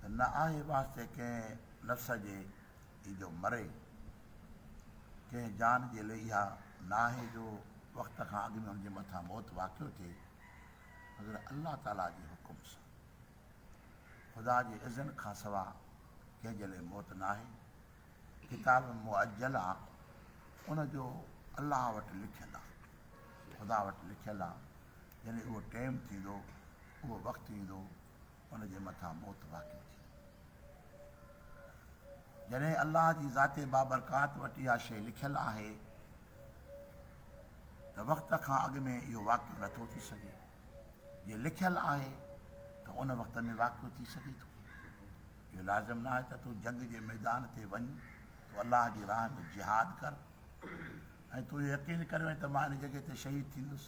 ته نه آهي واسطي ڪنهن نفس جي هي جو مري، ڪنهن جان جي لئي اها ناهي جو وقت کان اڳ ۾ ان جي مٿان موت واقع ٿئي، مگر الله تعاليٰ جي حڪم سان. خدا جي اذن کانسواء ڪنهن جي لئي موت ناهي. ڪتاب مؤجل آ ان جو الله وٽ لکيل آ خدا وٽ لکيل آ جڏهن اهو ٽيم ٿيندو اهو وقت ايندو ان جي مٿان موت واقع ٿي جڏهن الله جي ذات بابرڪات وٽ اها شيء لکيل آهي ته وقت کان اڳ ۾ اهو واقع نٿو ٿي سگهي جي لکيل آهي ته ان وقت ۾ واقع ٿي سگهي ٿو اهو لازم نه آهي ته تون جنگ جي ميدان تي وڃ، تون الله جي راهه ۾ جهاد ڪر ۽ تون اهو يقين ڪريو ۽ ته مان ان جڳهه تي شهيد ٿيندس،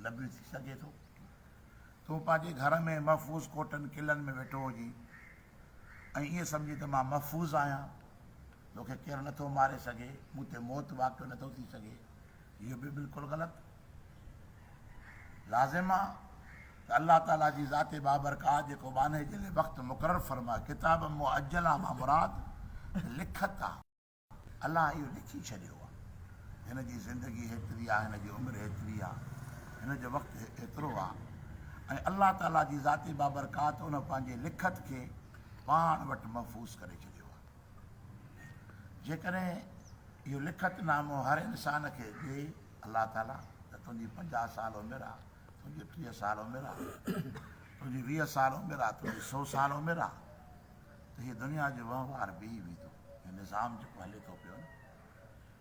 نبي ٿي سگهي ٿو تون پنهنجي گهر ۾ محفوظ ڪوٽن قلعن ۾ ويٺو هجين ۽ ائين سمجهين ته مان محفوظ آهيان، تو کي ڪير نٿو ماري سگهي، مون تي موت واقع نٿو ٿي سگهي. اهو به بلڪل غلط. لازم آ ته الله تعاليٰ جي ذات بابرڪات جيڪو ٻانهي جي لئه وقت مقرر فرمائي، ڪتاب مؤجلة مان مراد ته لکت آ، الله اهو لکي ڇڏيو آ، هن جي زندگي هيتري آ، هن جي عمر هيتري آ، هن جو وقت هيترو آ ۽ الله تعاليٰ جي ذات بابرڪات ان پنهنجي لکت کي پاڻ وٽ محفوظ ڪري ڇڏيو آ. جيڪڏهن اهو لکت نامو هر انسان کي ڏئي الله تعاليٰ ته تنهنجي پنجاهه سال عمر آ، تنهنجي ٽيهه سال عمر آ، تنهنجي ويهه سال عمر آ، تنهنجي سو سال عمر آ ته هي دنيا جو وهنوار بيهي ويندو. هي نظام جيڪو هلي ٿو پيو نه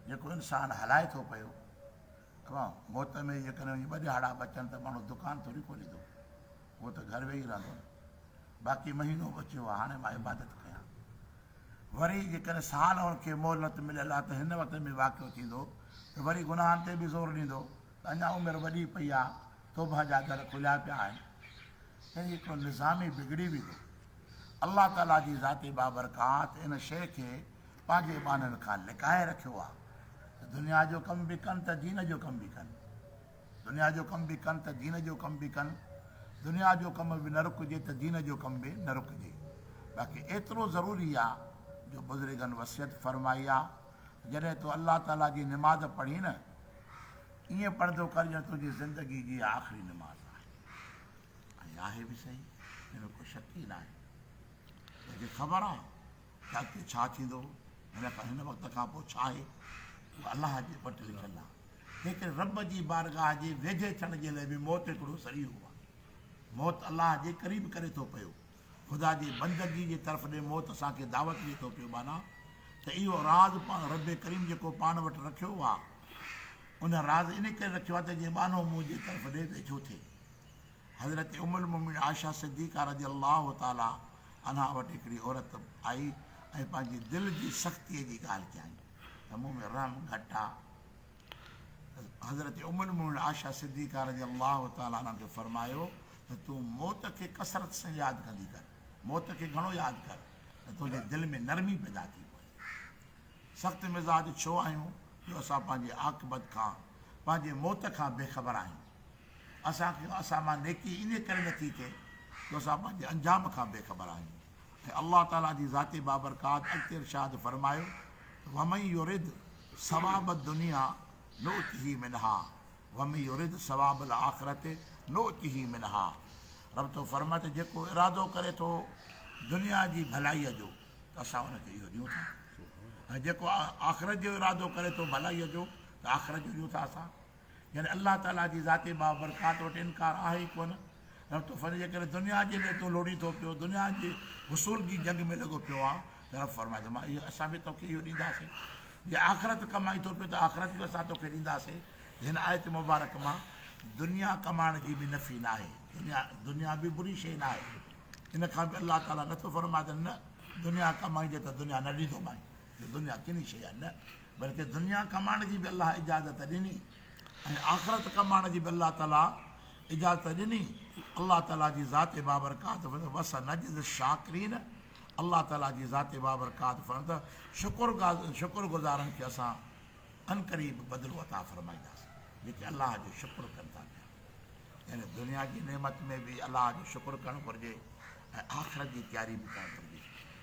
جيڪو انسان هلائي ٿو پيو کان، موت ۾ جيڪڏهن وڃي ٻه ڏهاڙا بچن ته ماڻهو دڪان ٿوري کوليندو، اهو ته گهر ويهي رهندو نه، باقي مهينو بچيو آهي، هاڻي مان عبادت ڪيان. وري جيڪڏهن سال هن کي مهلت مليل آهي ته هن وقت ۾ واقعو ٿيندو ته وري گناهن تي به زور ڏيندو ته اڃا عمر وڏي پئي آهي، توبهه جا در کليا پيا آهن. يعني هڪڙو نظام ئي بگڙي ويندو. الله تعاليٰ جي ذات بابرڪات ان شيء کي پنهنجي ٻانهن کان لڪائي رکيو آ ته دنيا جو ڪم به ڪن ته دين جو ڪم به ڪن دنيا جو ڪم به ڪن ته دين جو ڪم به ڪن دنيا جو ڪم به نه رڪجي ته دين جو ڪم به نه رڪجي باقي ايترو ضروري آ جو بزرگن وصيت فرمائي آ ته جڏهن تو الله تعالي جي نماز پڙهين نه ائين پڙهندو ڪر ڄڻ تنهنجي زندگي جي آخري نماز آهي ۽ آهي به صحيح ان ۾ ڪو شڪ ئي ناهي تنهنکي خبر آ ته اڳتي ڇا ٿيندو هن کان هن وقت کان پوء ڇا آهي اهو الله جي وٽ لکيل آهي تنهنڪري رب جي بارگاهه جي ويجهي ٿيڻ جي لئه به موت هڪڙو ذريعو آهي موت الله جي قريب ڪري ٿو پيو خدا جي بندگي جي طرف ڏي موت اسان کي دعوت ڏي ٿو پيو معنيٰ ته اهو راز پاڻ رب ڪريم جيڪو پاڻ وٽ رکيو آهي ان راز ان ڪري رکيو آهي ته جي ٻانهو منهنجي طرف ڏي ويجهو ٿئي حضرت ام المومنين عائشه صديقه رضي الله تعالٰي عنها وٽ هڪڙي عورت آئي ۽ پنهنجي دل جي سختيء جي ڳالهه ڪيائين ته مون ۾ رحم گهٽ آ. حضرت ام المومنين عائشه صديقه رضي الله تعالٰي عنها کي فرمايو ته تون موت کي ڪثرت سان ياد ڪندي ڪر، موت کي گهڻو ياد ڪر ته تنهنجي دل ۾ نرمي پيدا ٿي پوي. سخت مزاج ڇو آهيون جو اسان پنهنجي عاقبت کان، پنهنجي موت کان بي خبر آهيون. اسان کي اسان مان نيڪي انهي ڪري نٿي ٿئي جو اسان پنهنجي انجام کان بي خبر آهيون ۽ الله تعالي جي ذات بابرڪات اڳتي ارشاد فرمايو ته ومن يرد ثواب الدنيا نؤته منها ومن يرد ثواب الاخرة نؤته منها رب ٿو فرمائي ته جيڪو ارادو ڪري ٿو دنيا جي ڀلائي جو ته اسان ان کي اهو ڏيون ٿا ۽ جيڪو آخرت جو ارادو ڪري ٿو ڀلائي جو ته آخرت جو ڏيون ٿا اسان يعني الله تعاليٰ جي ذات بابرڪات وٽ انڪار آهي ئي ڪونه رب تو فرمائي جي ڪڏهن دنيا جي لاء تون لوڙهين ٿو پيو دنيا جي حصول جي جنگ ۾ لڳو پيو آهي ته رب فرمائي ته مان اهو اسان به توکي اهو ڏينداسين جي آخرت ڪمائي ٿو پيو ته آخرت به اسان توکي ڏينداسين هن آيت مبارڪ مان دنيا ڪمائڻ جي به نفي نه آهي دنيا دنيا به بري شيء نه آهي ان کان به الله تعالیٰ نٿو فرمائي ته نه دنيا ڪمائي جي ته دنيا نه ڏيندومائي دنيا ڪني شيء نه بلڪه دنيا ڪمائڻ جي به الله اجازت ڏني ۽ آخرت ڪمائڻ جي به الله تعالي اجازت ڏني الله تعالي جي ذات بابرڪات فرمائي ٿو وسنجزي الشاڪرين الله تعالي جي ذات بابرڪات فرمائي ٿو شڪر شڪر گذارن کي اسان انقريب بدلو عطا فرمائينداسين جيڪي الله جو شڪر ڪن ٿا پيا يعني دنيا جي نعمت ۾ به الله جو شڪر ڪرڻ گهرجي ۽ آخرت جي تياري به ڪرڻ گهرجي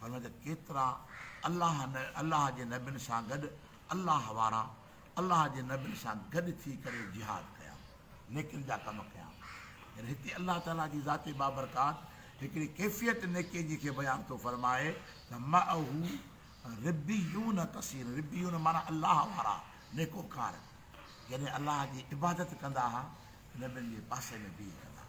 فرمايو ته ڪيترا الله نه الله جي نبين سان گڏ الله وارا الله جي نبين سان گڏ ٿي ڪري جهاد ڪيا نيڪين جا ڪم ڪيا يعني هتي الله تعالي جي ذات بابرڪات هڪڙي ڪيفيت نيڪين جي کي بيان ٿو فرمائي ته معه ربيون ڪثير ربيون معنيٰ الله وارا نيڪوڪار يعني الله جي عبادت ڪندا ها نبين جي پاسي ۾ بيهي ڪندا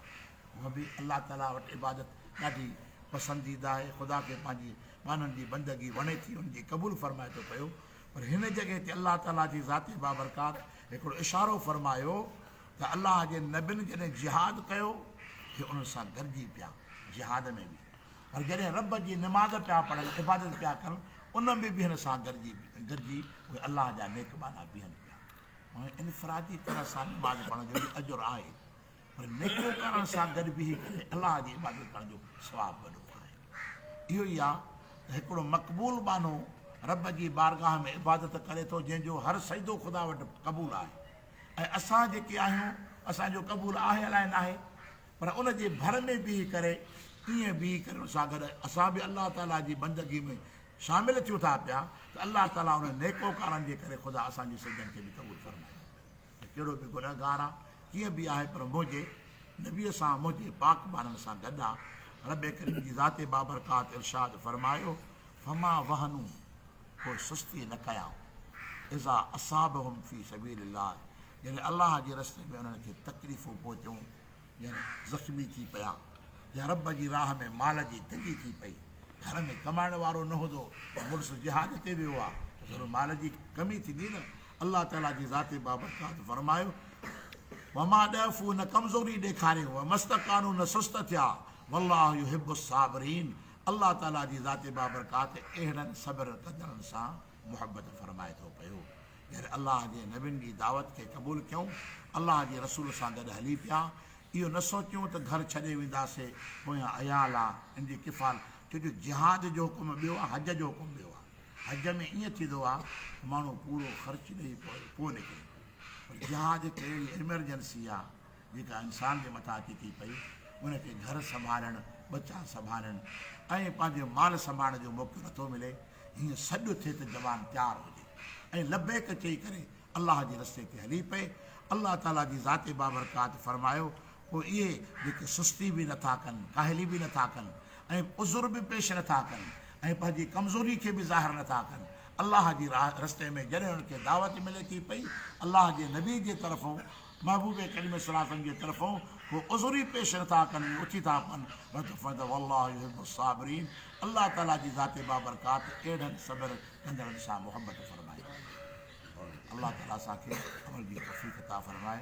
هونء به الله تعاليٰ وٽ عبادت ڏاڍي پسنديده آهي، خدا کي پنهنجي ٻانهن جي بندگي وڻي ٿي، ان جي قبول فرمائي ٿو پيو، پر هن جڳهه تي الله تعاليٰ جي ذات بابرڪات هڪڙو اشارو فرمايو ته الله جي نبين جڏهن جهاد ڪيو ته انهن سان گڏجي پيا جهاد ۾ به پر جڏهن رب جي نماز پيا پڙهن عبادت پيا ڪن ان ۾ به هن سان گڏجي گڏجي اهي الله جا نيڪ ٻانها بيهن پيا انفرادي طرح سان نماز پڙهڻ جو به اجر آهي پر نيڪيون ڪرڻ سان گڏ بيهي ڪري الله جي عبادت ڪرڻ جو ثواب وڏو آهي. اهو ئي آهي ته هڪڙو مقبول ٻانهو رب جي بارگاهه ۾ عبادت ڪري ٿو جنهن جو هر سجدو خدا وٽ قبول آهي ۽ اسان جيڪي آهيون اسان جو قبول آهي الائي ناهي پر ان جي ڀر ۾ بيهي ڪري ائين بيهي ڪري ان سان گڏ اسان به الله تعاليٰ جي بندگي ۾ شامل ٿيون ٿا پيا ته الله تعاليٰ انهن نيڪوڪارن جي ڪري خدا اسان جي سجدن کي به قبول فرمائي ته ڪهڙو به گنهگار آ، ڪيئن به آهي پر منهنجي نبيء سان منهنجي پاڪ ٻارن سان گڏ آ. ربّ ڪريم جي ذات بابرڪات ارشاد فرمايو، فما وهنو، پوء سستي نه ڪيائون، اذا اصابهم في سبيل الله، جڏهن الله جي رستي ۾ انهن کي تڪليفون پهتيون، ڄڻ زخمي ٿي پيا يا رب جي راهه ۾ مال جي تنگي ٿي پئي. گهر ۾ ڪمائڻ وارو نه هوندو ته مڙس جهاد تي ويو آ ته ضرور مال جي ڪمي ٿيندي نه. الله تعاليٰ جي ذات بابرڪات فرمايو، وما ضعف نه ڪمزوري ڏيکاريو وما استڪانو نه سست ٿيا والله يحب الصابرين الله تعاليٰ جي ذات بابرڪات اهڙن صبر ڪندڙن سان محبت فرمائي ٿو پيو. جڏهن الله جي نبين جي دعوت کي قبول ڪيون، الله جي رسول سان گڏ هلي پيا، اهو نه سوچيون ته گهر ڇڏي وينداسي، پويان عيال آ، ان جي ڪفال، ڇو جو جهاد جو حڪم ٻيو آ، حج جو حڪم ٻيو آ، حج ۾ ائين ٿيندو آ ته ماڻهو پورو خرچ ڏئي پوء نڪري ٿو، پر جهاد هڪ اهڙي ايمرجنسي آ، جيڪا انسان جي مٿان اچي ٿي پئي، ان کي گهر سنڀالڻ، ٻچا سنڀالڻ ۽ پنهنجي مال سنڀالڻ جو موقعو نٿو ملي، هيئن سڏ ٿئي ته زبان تيار هجي ۽ لبيڪ چئي ڪري الله جي رستي تي هلي پئي، الله تعاليٰ جي ذات بابرڪات فرمايو، پوء اهي جيڪي سستي به نٿا ڪن، ڪاهلي به نٿا ڪن ۽ عذر به پيش نٿا ڪن ۽ پنهنجي ڪمزوري کي به ظاهر نٿا ڪن، الله جي رستي ۾ جڏهن انهن کي دعوت ملي ٿي پئي، الله جي نبي جي طرفون، محبوب ڪريم صلّي الله عليه وسلّم جي طرفون ڪو عذر ئي پيش نه ٿا ڪن ۽ اٿي ٿا پون بلڪ فدعوا الله يحب الصابرين الله تعاليٰ جي ذات بابرڪات اهڙن صبر ڪندڙن سان محبت فرمائيندي آهي الله تعاليٰ اسان کي عمل جي توفيق عطا فرمائي.